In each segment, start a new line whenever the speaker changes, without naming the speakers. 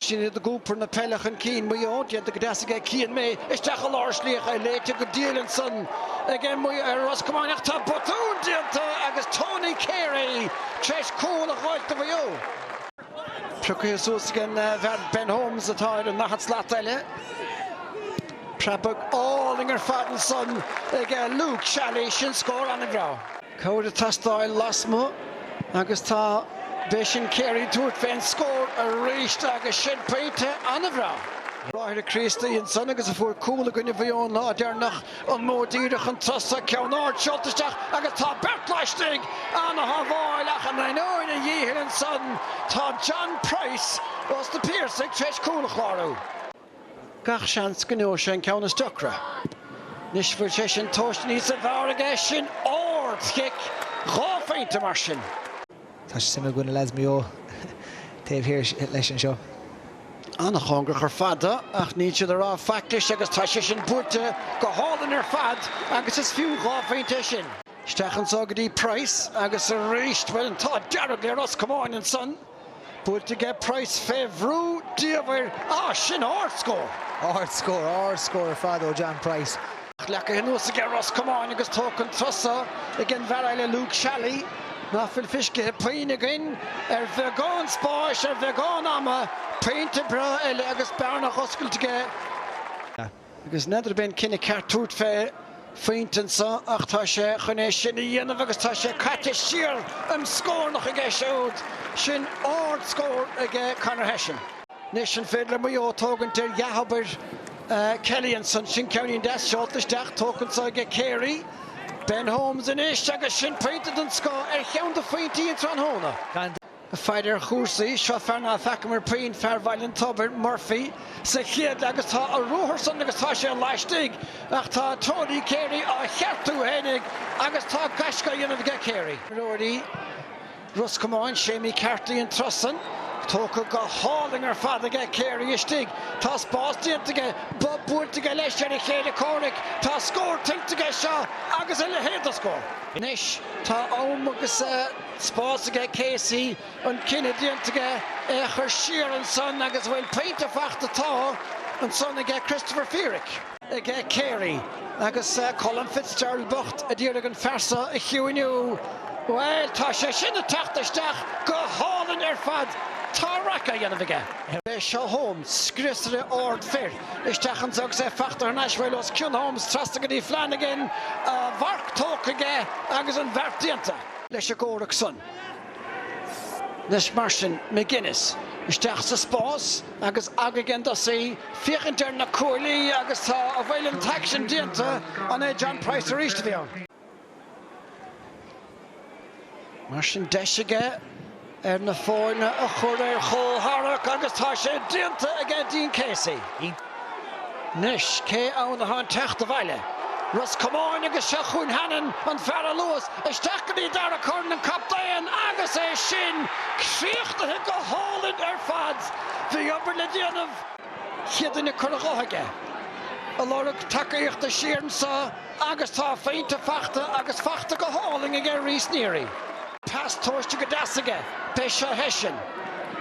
Sin iad ag iompar na peile chun cinn, Maigh Eo, déanta go deas aige Cian May, isteach i lár slíoctha, é léite go diail ansan aige Ros Comáin ach tá botún déanta agus Tony Carey tar éis cúl a ghoid do Mhaigh Eo. Prioctha suas ag an bhfear Ben Holmes atá ar an ndaichead slat eile. Preabadh álainn ar fad ansan aige Luke Shally, sin scór an-bhreá. cabhair ag teastáil lasmuigh agus tá b'é sin Carey tabhairt fén scór arís agus sin pointe an-bhreá ag bráithre Críostaí ansan agus a fuair cúl i gcoinne Mhaigh Eo an lá deirneach, an modh díreach chun tosaigh, ceann ard seolta isteach agus tá beirt laistigh, an-shábháil ach in ainneoin a dhíchill ansan tá John Price ós na Piarsaigh tréis cúl a chlárú. Gach seans go ngeobhaidh sé an ceann is deocra. Anois bhfuil sé sin tomhaiste níosa bhfearr aige sin ard chic dhá phointe mar sin. Tá suim againn i lads Maigh Eo taobh thiar leis anseo. An-chóngarach ar fad do ach níl siad ag rá faic leis agus tá sé sin buailte go hálainn ar fad agus is fiú dhá phointe é sin. Isteach anso go dtí Price agus arís, bhuel an t-ádh dearg le Ros Comáin ansan. Buailte aige Price fé bhrú diamhair ach sin ard scór. Ard scór, ard scór ar fad ó John Price. Leacaithe anuas aige Ros Comáin agus tógtha an turas so ag an bhfear eile Luke Shally. Ná fuil fiscithe puinn againn ar bheagán spáis, ar bheagán ama. Pointe breá eile agus bearna oscailte aige. Agus n'fheadar ab é an cinneadh ceart tabhairt fé phointe anso ach tá sé chun é sin a dhéanamh agus tá sé caite siar im scórnach aige siúd. Sin ard scór aige Conor Hession. Anois an féidir le Maigh Eo tógaint ar dhea-obair Kelly ansan? Sin ceannín deas seolta isteach, tógtha anso aige Carey. Ben Holmes anois agus sin pointe den scoth ar cheann de phointí an tráthnóna. fear ar chúrsaí. Seo fear ná feacamar puinn, fear Bhaile an Tobair, Murphy, sa chéad leath agus tá a ruathar san agus tá sé laistigh ach tá Tony Carey á cheartú fhéinig agus tá gaisce á dhéanamh aige Carey. Imreoirí Ros Comáin, Séimí Carty an turas san, tógtha go hálainn ar fad aige Carey istigh. Tá spás déanta aige, bob buailte aige leis ar a chéile comhraic, tá scór tuillte aige seo agus a leithéid de scór. Anois tá am agus. spás aige Casey, an cinneadh déanta aige é a chur siar ansan agus bhuel, pointe fachta tá ansan aige Christopher Feerick, aige Carey agus Colm Fitzgerald bocht a d'iarraidh an fear so a chiúiniú, bhuel, tá sé sin ag teacht isteach go hálainn ar fad, tá raic á dhéanamh aige. Beidh Seó Holmes, gríosaire ard fir, isteach anso agus é fachta thar n-ais, bhuel, os cionn Holmes trasna go dtí Flanagan, a mharc tógtha aige agus an bheart déanta. leis an gcomhrac san. Anois mar sin, McGuinness isteach sa spás agus agaidh an dos í, féachaint ar na cuaillí agus tá a bhfuil an t-aicsean déanta, an é John Price arís a bhí ann? Mar sin, deis aige. ar na foirne a chur ar chomhtharrac agus tá sé déanta aige Dean Casey. Anois cé ann atá ag teacht abhaile? Ros Comáin agus seo chugainn Hannon, an fear a luas isteach go dtí Dara Curran an captaen agus é sin críochnaithe go hálainn ar fad. Bhí obair le déanamh, chéad duine curtha dhe aige, ag lorg tacaíochta siar anso agus tá a phointe faighte agus faighte go hálainn aige Rhys Neary. Pas tomhaiste go deas aige b'é seo Hession.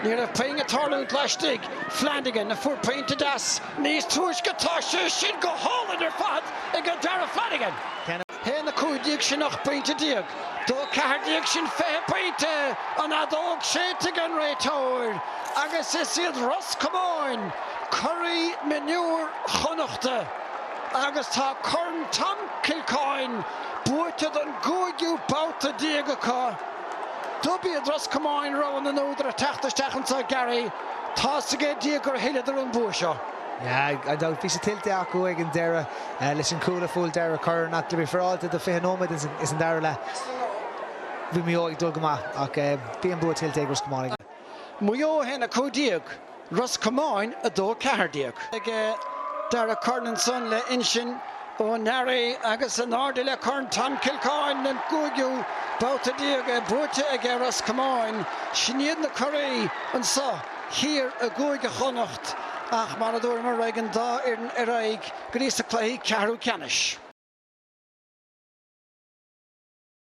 Ní raibh puinn ag tarlúint laistigh. Flanagan a fuair pointe deas níos túisce. Tá sé sin go hálainn ar fad aige Dara Flanagan. A haon a cúig déag sin ocht bpointe déag. Dó a ceathair déag sin fiche pointe. An fheadóg séidte ag an réiteoir. Agus is iad Ros Comáin curaí mionúir Chonnachta. Agus tá Corn Tom Kilcoyne. Buaite don gcúigiú babhta déag acu, dob iad Ros Comáin rogha na n-údar ag teacht isteach anso Garry. Tá's ag Dia gur thuilleadar an bua seo. Gan dabht, bhí sé tuillte acu ag an deireadh leis an gcúl a fuair Dara Curran ach le bheith fairáilte do 20 nóiméad ins an dara leath, bhí Maigh Eo ag dul go maith ach bhí an bua tuillte ag Ros Comáin. Maigh Eo 1, 15, Ros Comáin 2, 14. Aige Dara Curran ansan le Uinsinn Ó Nearaigh agus in airde le Corn Tom Kilcoyne den gcúigiú babhta déag buaite aige Ros Comáin. Sin iad na curaí anso thiar i gCúige Chonnacht ach mar a dúramar beidh an dá fhoireann ar aghaidh go dtís na cluichí ceathrú ceannais.